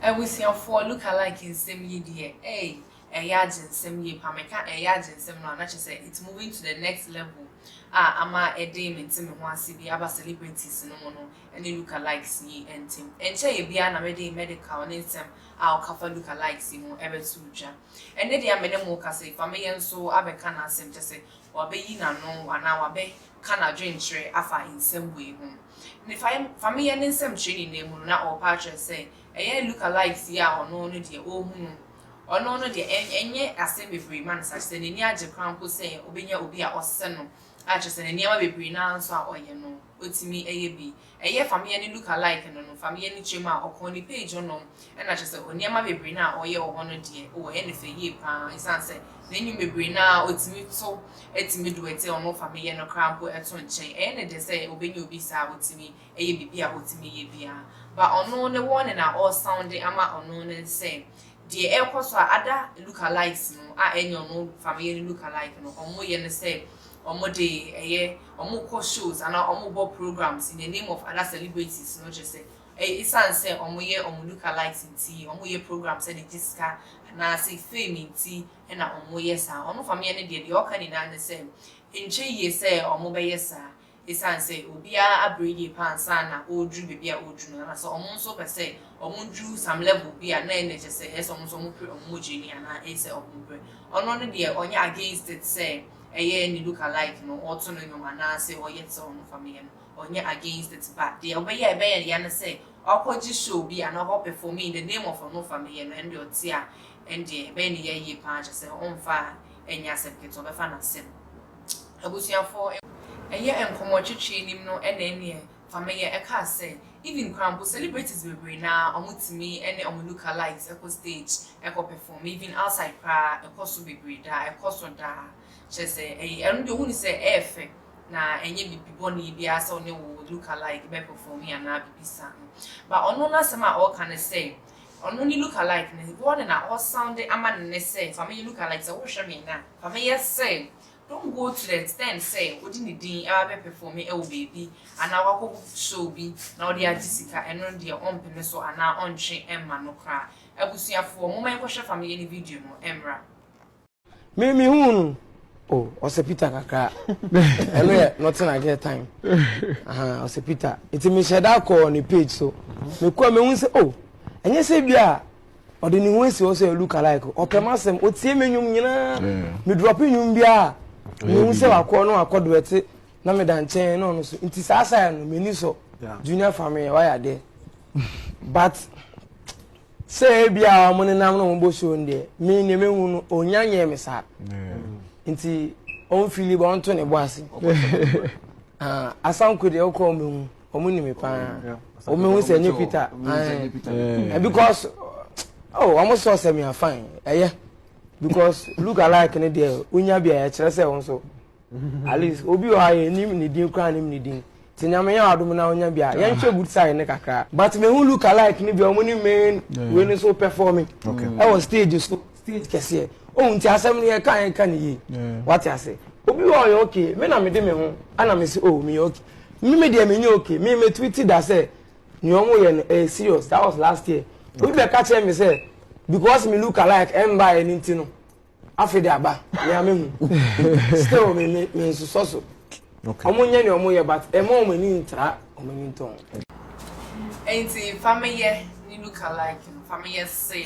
Abusuafoɔ lookalike nsɛm yi deɛ ei ɛyɛ agyensɛm yie paa meka ɛyɛ agyensɛm no a na kyerɛ sɛ it's moving to the next level a ama ɛde me nte me ho ase bi aba celebrities no mu no ne lookalikes yi ntem ɛnkyɛeɛ biara na mede medical ne nsɛm a ɔkafa lookalikes yi ho ɛbɛto dwa Ɛnne deɛ a me ne mo rekasa yi, fa me yɛ nso abɛka n'asɛm, kyerɛ sɛ, wabeyi n'ano anaa wabɛka n'adwenkyerɛ afa nsɛm wei ho. Ne fa yɛ, fa me yɛ ne nsɛmkyerɛ nyinaa mu no, na ɔrepa akyerɛ sɛ, ɛyɛ Luka light yi a ɔno no deɛ ɔrehu no, ɔno no deɛ ɛn, ɛnyɛ asɛm bebree ma no saa, kyerɛ sɛ n'ani agye koraa mpo sɛ ɔbɛnya obi a ɔsɛ no, a kyerɛ sɛ ne nneɛma bebree no ara nso a ɔyɛ no, ɔtumi yɛ bi Ɛyɛ Famia ne look alike no no Famia ne kyerɛ mu a ɔkɔɔ ne page hɔ nom ɛna kyerɛ sɛ ɔneɛma bebree no a ɔyɛ wɔ hɔ no deɛ oh ɛyɛ ne fɛ yie paa ɛsiane sɛ n'anwom bebree no a ɔtumi to ɛtumi do ɛte ɔno Famia no koraa mpo ɛto nkyɛn ɛyɛ ne dɛ sɛ ɔbɛnya obi saa a ɔtumi ɛyɛ biribi a ɔtumi yɛ biara but ɔno ne warning a ɔresoundi ama ɔno ne sɛ deɛ ɛrekɔ so a other look alikes no a ɛnyɛ ɔno Famia ne look alike no wɔn yɛ no sɛ wɔde ɛyɛ wɔn kɔ shows anaa wɔn bɔ programs in the name of other celebrities no kyerɛ sɛ ɛyɛ esan sɛ wɔn yɛ wɔn look alikes nti wɔn yɛ programs de gye sika anaa se fame nti na wɔn yɛ saa wɔn fameɛ no deɛ deɛ ɔka nyinaa ne sɛ nkyɛ yie sɛ wɔn bɛyɛ saa esan sɛ obiara abre yie paa ansa na ɔreduru baabi a ɔreduru no anaa sɛ wɔn nso pɛ sɛ wɔn duru some level bi a na ɛna kyɛ sɛ ɛyɛ sɛ wɔn nso wɔn pere wɔn mogya ni anaa ɛyɛ sɛ wɔn brɛ ɔno no deɛ ɔnyɛ against it sɛ Ɛyɛ ne look alike no ɔto no nwom anaasɛ ɔyɛ te sɛ ɔno fa meyɛ no ɔnyɛ against it but deɛ ɔbɛyɛ a ɛbɛyɛ ya ne sɛ ɔkɔ gye show bi anaa ɔkɔ perform in the name of ɔno fa meyɛ no ɛndeɛ ɔte a ɛndeɛ ɛbɛyɛ ne ya yie paa kyerɛ sɛ ɔmfa nyɛ asɛm ketewa ɔbɛfa no asɛm abusuafoɔ ɛyɛ nkɔmmɔtwetwe nim no ɛna ɛneɛ Fameyɛ ɛkaa sɛ, Even koraa mpo celebrities bebree no ara ɔmo tumi ɛne ɔmo lookalikes ɛkɔ stage ɛkɔ perform even outside koraa ɛkɔso bebree daa ɛkɔso daa kyerɛ sɛ ɛyɛ ɛno deɛ ohunu sɛ ɛyɛ fɛ na ɛnyɛ bibi bɔne biara sɛ ɔne wo lookalike bɛ perform anaa bibi saa no but ɔno n'asɛm a ɔɔka no sɛ ɔno ne lookalike no wɔn na ɔɔ sound ama no nnɛ sɛ Fameyɛ lookalike sɛ wo hwɛ me na Fameyɛ sɛ Don Gottlieb pɛn sɛ ɔde ne din ba bɛpɛfɔme wɔ baabi anaa wakɔ show bi na ɔde agye sika, ɛno no deɛ ɔmpene so anaa ɔntwe mma no koraa. Abusuafoɔ, momma yɛnkɔhwɛ family no video no mmra. Me me hu no o ɔsɛ peter kakra ɛno yɛ nothing like that time ahan ɔsɛ peter nti me hyɛ da kɔ ne page so me kɔ me hu sɛ o ɛnyɛ sɛ bi a ɔde ne ho asi hɔ sɛ look alike ɔpɛ m'asɛm ɔtie me nnwom nyinaa medrɔpe nnwom biara mehu sɛ wakɔ na wakɔ do ɛte na meda nkyɛn na ɔno so nti saa saa no m'ani sɔ junior family wayɛ adeɛ but sɛ ebi a wɔn nenam na wɔn bɔ show no deɛ me nea mehu no onya nyɛ me saa nti wɔn fili bɔ wɔn to ne bo ase. Ah, asanko deɛ wokɔ ɔmo hu ɔmo nim me paa ɔmo hu sɛ nye peter ɛn eh, because oh ɔmo sɔ sɛ mi afan ɛyɛ eh, because look alike ne deɛ onya bi a ɛkyerɛ sɛ ɔmo so at least obi wɔ ha yɛ nim ne din kura nim ne din te nyame yɛ adum na onya bi a yɛn hwɛ good side ne kakra but me hu look alike ne bi ɔmo ne main wei ne so performing ɛwɔ stage so stage kɛseɛ ohun nti asɛm no yɛ ka yɛ ka ne yie wate ase obi wɔ ɔyɛ okay me na me de me ho ana me se oh me yɛ okay me me deɛ me nyɛ okay me me tweet da sɛ nea wɔn yɛ no ɛyɛ eh, serious that was last year obi bɛ ka kyerɛ me sɛ because me look alike ɛnba yɛ ne nti no afei de aba nea me hu still me me me nsosɔ so wɔn nyɛ nea wɔn yɛ but ɛmɔ wɔn ani ntra wɔn ani ntɔn. nti fameyɛ ne look alike fameyɛ se.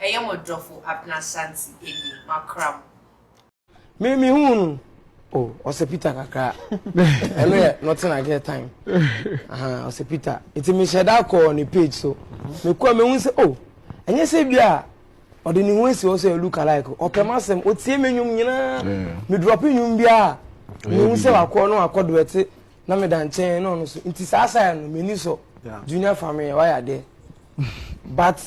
Ɛyɛ mo dɔfo Abena Shanti Eni, makra mo. Me me hu no. Oh, ɔsɛ Peter kakra. Ɛno yɛ nothing like that time. Aha, ɔsɛ Peter. Nti me hyɛ da kɔ ne page so. Me kɔ me hu sɛ oh, ɛnyɛ sɛ bi a ɔde ne ho asi hɔ sɛ look alike. Ɔpɛ ma sɛm, otie me nnwom nyinaa. Me drop nnwom bi a, me hu sɛ wakɔ no akɔ do ɛte. na meda nkyɛn na ɔno so nti saa saa no m'ani sɔ junior family wayɛ adeɛ but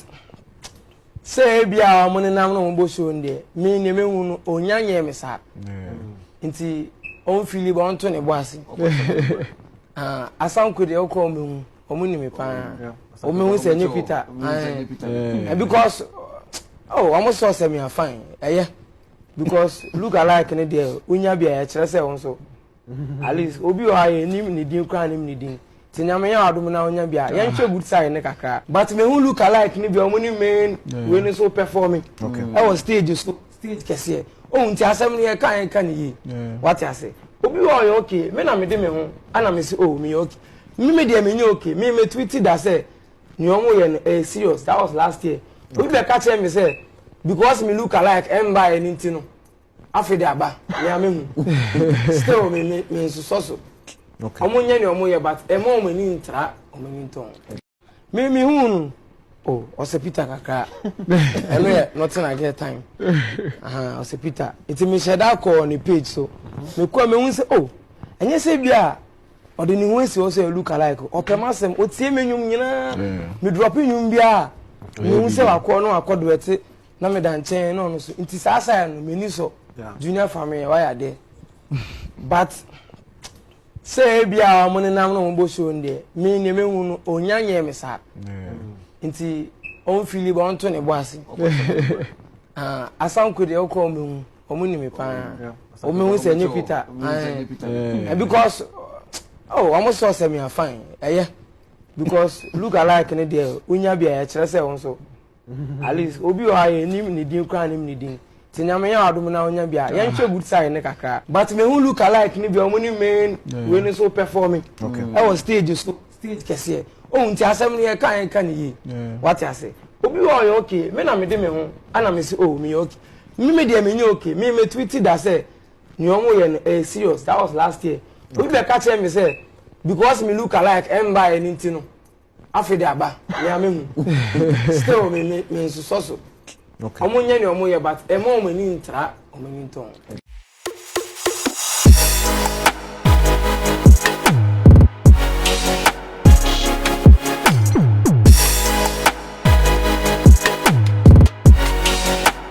sɛ ebi a wɔn nenam na wɔn bɔ show no deɛ me nea mehu no onya nyɛ me saa nti wɔn fili ba wɔn to ne bo ase ah, asanko deɛ ɔkɔ wɔn ehu wɔn nim paa wɔn ehu sɛ nye peter ɛɛ because oh wɔn sɔ sɛ mi afan ɛyɛ because look alike ne deɛ onya bi a yɛkyerɛ sɛ wɔn so. at least obi wɔ hɔ a yɛnim ne din koraa nim ne din nti nyame yɛ adom na wonya bi a yɛnhwɛ good side ne kakra but mehu look alike no bi a ɔmo ne main wei no so performing ɛwɔ stage so stage kɛseɛ ohun ti asɛm no yɛka yɛka ne yie wate ase obi wɔ ɔyɛ okay me na mede me ho ana me se oh meyɛ okay me me deɛ menyɛ okay me me tweet da sɛ nea ɔmo yɛ no ɛyɛ serious that was last year obi bɛka kyerɛ me sɛ because me look alike ɛmba ɛne nti no afe de aba nea me hu still me me me nsosɔ so ɔmo nyɛ nea ɔmo yɛ but ɛma ɔmo ani ntra ɔmo ani ntɔn me me hu no o ɔsɛ peter kakra ɛno yɛ nothing i get time ɔsɛ peter nti me hyɛ da kɔɔ ne page so me kɔ a me hu sɛ o ɛnyɛ sɛ bi a ɔde ne ho asi hɔ sɛ ɛlu kalike ɔpɛ m asɛm ɔtie me nnwom nyinaa me drɔpe nnwom biara mehu sɛ wakɔ no akɔ doɛte na meda nkyɛn na ɔno so nti saa saa no m'ani sɔ junior family wayɛ adeɛ but sɛ ebi a wɔn nenam na wɔn bɔ show no deɛ me nea mehu no onya nyɛ me saa nti wɔn fili ba wɔn to ne bo ase ah, asanko deɛ ɔkɔ wɔn ehu wɔn nim paa wɔn ehu sɛ nye peter ɛɛ because oh wɔn sɛ ɔsɛ mi afan ɛyɛ because look alike ne deɛ onya bi a yɛkyerɛ sɛ wɔn so. at least obi wɔ hɔ a yɛnim ne din koraa nim ne din nti nyame yɛ wadom na wonya bi a yɛnhwɛ good side ne kakra but mehu look alike no bi a ɔmo ne main wei no so performing ɛwɔ stage so stage kɛseɛ ohun ti asɛm no yɛka yɛka ne yie wate ase obi wɔ ɔyɛ okay me na mede me ho ana me se oh meyɛ okay me me deɛ menyɛ okay me me tweet da sɛ nea ɔmo yɛ no ɛyɛ serious that was last year obi bɛka kyerɛ me sɛ because me look alike ɛmba yɛ ne nti no afe de aba nea me hu still me me me nsosɔ so ɔmo nyɛ nea ɔmo yɛ but ɛma ɔmo ani ntra ɔmo ani ntɔn.